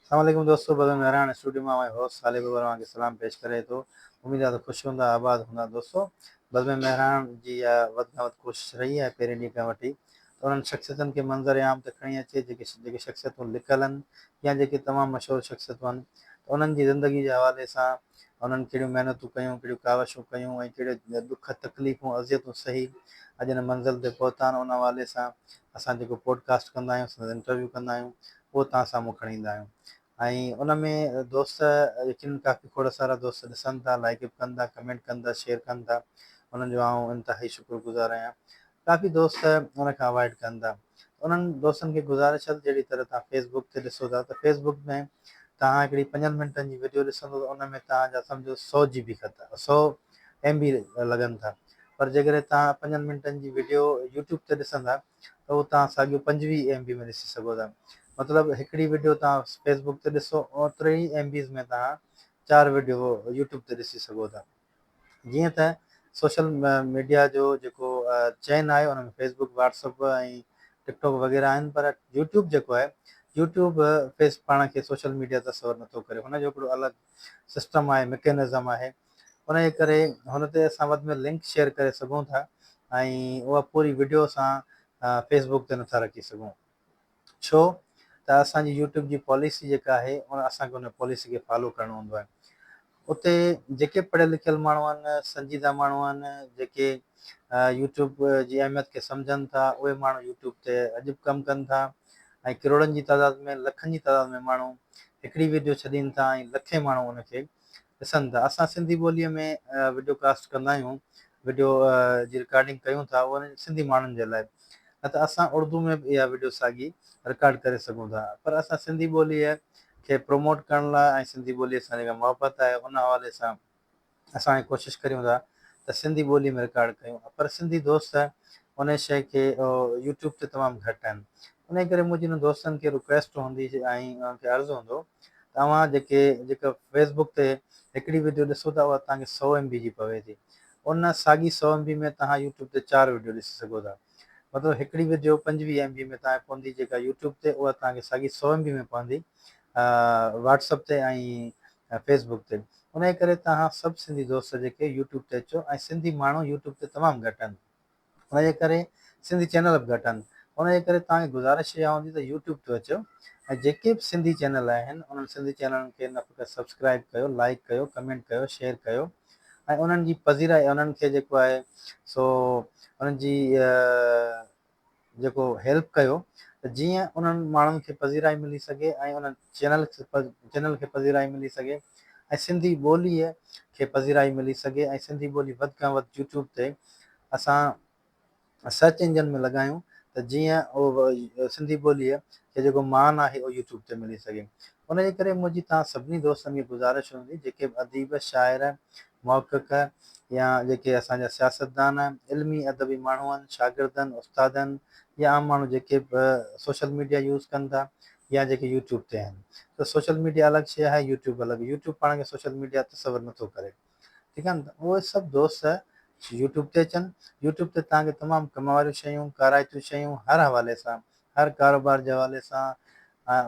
السلام عليڪم دوستو بزم مهراڻ اسٽوڊيو مان اوهان هوسٽ صالح ببر اوهان کي سلام پيش ڪري ٿو اميد آهي ته خوش هوندا آباد هوندا دوستو بزم مهراڻ جي اها وڌ کان وڌ ڪوشش رهي آهي پهرين ڏينهن کان وٺي ته انهن شخصيتن کي منظر عام تي کڻي اچي جيڪي جيڪي شخصيتون لڪل آهن يا جيڪي تمام مشهور شخصيتون آهن ته انهن جي زندگي جي حوالي سان انهن ڪهڙيون محنتون ڪيون، ڪهڙيون ڪاوشون ڪيون ۽ ڪهڙي ڏک، تڪليفون، اذيتون سهي اڄ ان منزل تي پهتا آهن ان حوالي سان اسان جيڪو پوڊڪاسٽ ڪندا آهيون، سندن انٽرويو ڪندا آهيون اهو توهان سامهون کڻي ايندا آهيون ۽ ان ۾ دوست يقينن ڪافي کوڙ سارا دوست ڏسن ٿا، لائڪ به ڪن ٿا، ڪمينٽ ڪن ٿا، شيئر ڪن ٿا انهن جو آئون انتهائي شڪر گذار آهيان ڪافي دوست ان کي اوائڊ ڪن ٿا ته انهن دوستن کي گذارش آهي ته جهڙي طرح توهان فيس بڪ تي ڏسو ٿا ته فيس بڪ ۾ توهان هڪڙي پنجن منٽن جي وڊيو ڏسندو ته ان ۾ توهان جا سمجهو سؤ جي بي خرچ سؤ ايم بي لڳن ٿا پر جيڪڏهن توهان پنجن منٽن جي وڊيو يوٽيوب تي ڏسندا ته اهو توهان ساڳيو پنجويهه ايم بي ۾ ڏسي سگهو ٿا مطلب هڪڙي وڊيو توهان فيس بڪ تي ڏسو اوتري ئي ايم بيز ۾ توهان چار وڊيو يوٽيوب تي ڏسي سگهو ٿا. جيئن ته سوشل ميڊيا جو جيڪو چين آهي ان ۾ Facebook WhatsApp ۽ TikTok وغيره آهن پر يوٽيوب جيڪو آهي يوٽيوب فيس پاڻ کي سوشل ميڊيا تصور نٿو ڪري هن جو هڪڙو الڳ سسٽم آهي مڪينزم آهي ان جي ڪري هن تي اسان وڌ ۾ لنڪ شيئر ڪري سگهون ٿا ۽ اها پوري وڊيو اسان فيس بڪ تي نٿا رکي سگهون ڇو ته اسان جي يوٽيوب جي پاليسي جيڪا آهي ان اسان کي ان پاليسي کي فالو ڪرڻو هوندو آهي اتي جيڪي پڙهيل لکيل ماڻهو آهن سنجيده ماڻهو آهن جيڪي يوٽيوب جي اهميت کي سمجهن ٿا اهي ماڻهو يوٽيوب تي اڄ به ڪم ڪن ٿا ۽ ڪروڙن جي تعداد ۾ لکن جي تعداد ۾ ماڻهو هڪڙي ويڊيو ڇڏين ٿا ۽ لکين ماڻهو ان کي ڏسن ٿا اسان سنڌي ٻولي ۾ وڊيو ڪاسٽ ڪندا آهيون وڊيو جي رڪارڊنگ ڪيون ٿا اهو سنڌي ماڻهن جي لاء نه ته اسان اڙدو ۾ به اها وڊيو ساڳي رڪارڊ ڪري سگهون ٿا پر اسان سنڌي ٻولي کي پروموٽ ڪرڻ لاء ۽ سنڌي ٻولي سان جيڪا محبت آهي ان حوالي سان اسان هي ڪوشش ڪريون ٿا ته سنڌي ٻولي ۾ رڪارڊ ڪيون پر سنڌي دوست انهي شئي کي يوٽيوب تي تمام گهٽ آهن انهي ڪري منهنجي انهن دوستن کي رڪويسٽ هوندي ۽ انهن کي عرض هوندو توهان جيڪي جيڪي فيس بڪ تي هڪڙي وڊيو ڏسو ٿا اها توهان کي سؤ ايم بي جي پوي ٿي ان ساڳي سؤ ايم بي ۾ توهان يوٽيوب تي چار وڊيو ڏسي سگهو ٿا مطلب هڪڙي وڊيو پنجويهه ايم بي ۾ توهان کي پوندي جيڪا يوٽيوب تي اها توهان کي ساڳي سؤ ايم بي ۾ پوندي واٽس اپ تي ۽ فيس بڪ تي انهي ڪري توهان سڀ سنڌي دوست جيڪي يوٽيوب تي اچو ۽ سنڌي ماڻهو يوٽيوب تي تمام گهٽ آهن ان جي ڪري سنڌي چينل به گهٽ آهن ان جي ڪري توهان کي گذارش اها هوندي ته يوٽيوب تي اچو ۽ جيڪي به سنڌي چينل آهن انهن سنڌي چينلن کي نه فقط سبسڪرائب ڪيو لائڪ ڪيو ڪمينٽ ڪيو شيئر ڪيو ۽ انهن جي پذيرائي انهن کي جيڪو آهي سو انهن جي جيڪو هيلپ ڪيو ته جيئن انهن ماڻهن کي پذيرائي ملي سگهي ۽ انهن چينل کي پذيرائي ملي سگهي ۽ سنڌي ٻولي کي پذيرائي ملي سگهي ۽ سنڌي ٻولي وڌ کان وڌ يوٽيوب تي اسان سرچ انجن ۾ لڳايون ته جيئن سنڌي ٻولي کي جيڪو مان آهي اهو يوٽيوب تي ملي سگهي ان جي ڪري منهنجي توهان سڀني دوستن کي گذارش هوندي جيڪي به اديب شاعر محقق يا جيڪي اسان جا سياستدان، علمي ادبي ماڻهون، شاگردن، استادن يا عام ماڻهو جيڪي به سوشل ميڊيا يوز ڪن ٿا يا جيڪي يوٽيوب تي آهن ته سوشل ميڊيا الڳ شيء آهي يوٽيوب الڳ يوٽيوب پاڻ کي سوشل ميڊيا تصور نٿو ڪري ٺيڪ آهي نه اهي سڀ دوست يوٽيوب تي اچن يوٽيوب تي تهان کي تمام ڪم واريون شيون ڪارائتون شيون هر حوالي سان هر ڪاروبار جي حوالي سان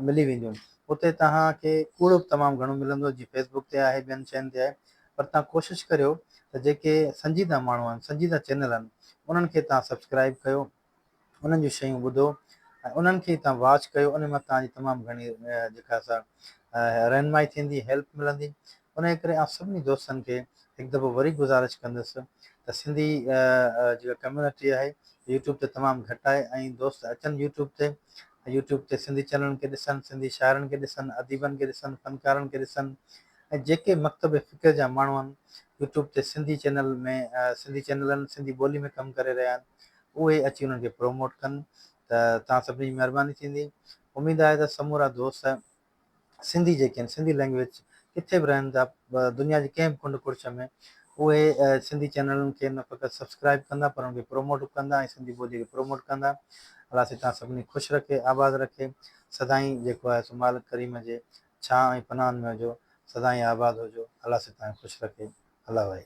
ملي وينديون اتي توهان کي ڪوڙو به تمام گهڻو ملندو جيئن فيس بڪ تي آهي ٻين شين تي آهي پر توهان ڪوشش ڪريو ته جيڪي سنجيده ماڻهو آهن سنجيده چينل آهن انهن کي توهان سبسڪرائب ڪيو انهن جون شيون ٻڌو ۽ انهن کي توهان واچ ڪيو انهن مان توهان جي تمام گهڻي جيڪا سا رهنمائي ٿيندي هيلپ ملندي انهيء ڪري آئون سڀني دوستن کي هڪ دفعو وري گذارش ڪندس ته سنڌي جيڪا ڪميونٽي آهي يوٽيوب تي تمام گهٽ آهي ۽ دوست اچن يوٽيوب تي ۽ يوٽيوب تي سنڌي چينلن کي ڏسن، سنڌي شاعرن کي ڏسن، اديبن کي ڏسن، فنڪارن کي ڏسن ۽ جيڪي مڪتب فڪر جا ماڻهو آهن يوٽيوب تي سنڌي چينل ۾ سنڌي چينلن سنڌي ٻولي ۾ ڪم ڪري رهيا آهن اهي اچي انهن کي پروموٽ ڪن ته توهان سڀني جي مهرباني ٿيندي اميد آهي ته سمورا دوست سنڌي جيڪي آهن سنڌي لينگويج ڪٿي به رهن ٿا دنيا جي ڪنهن به ڪنڊ ڪڙڇ ۾ اهي سنڌي چينلن کي نه فقط سبسڪرائب ڪندا پر ان کي پروموٽ به ڪندا ۽ سنڌي ٻولي کي پروموٽ ڪندا الله سيتان سڀني خوش رکي آباد رکي سدائين جيڪو آهي سو مالڪ ڪريم جي ڇانء ۽ پناهن ۾ هجو سدائين آباد هجو الله سيتان خوش رکي الله وائي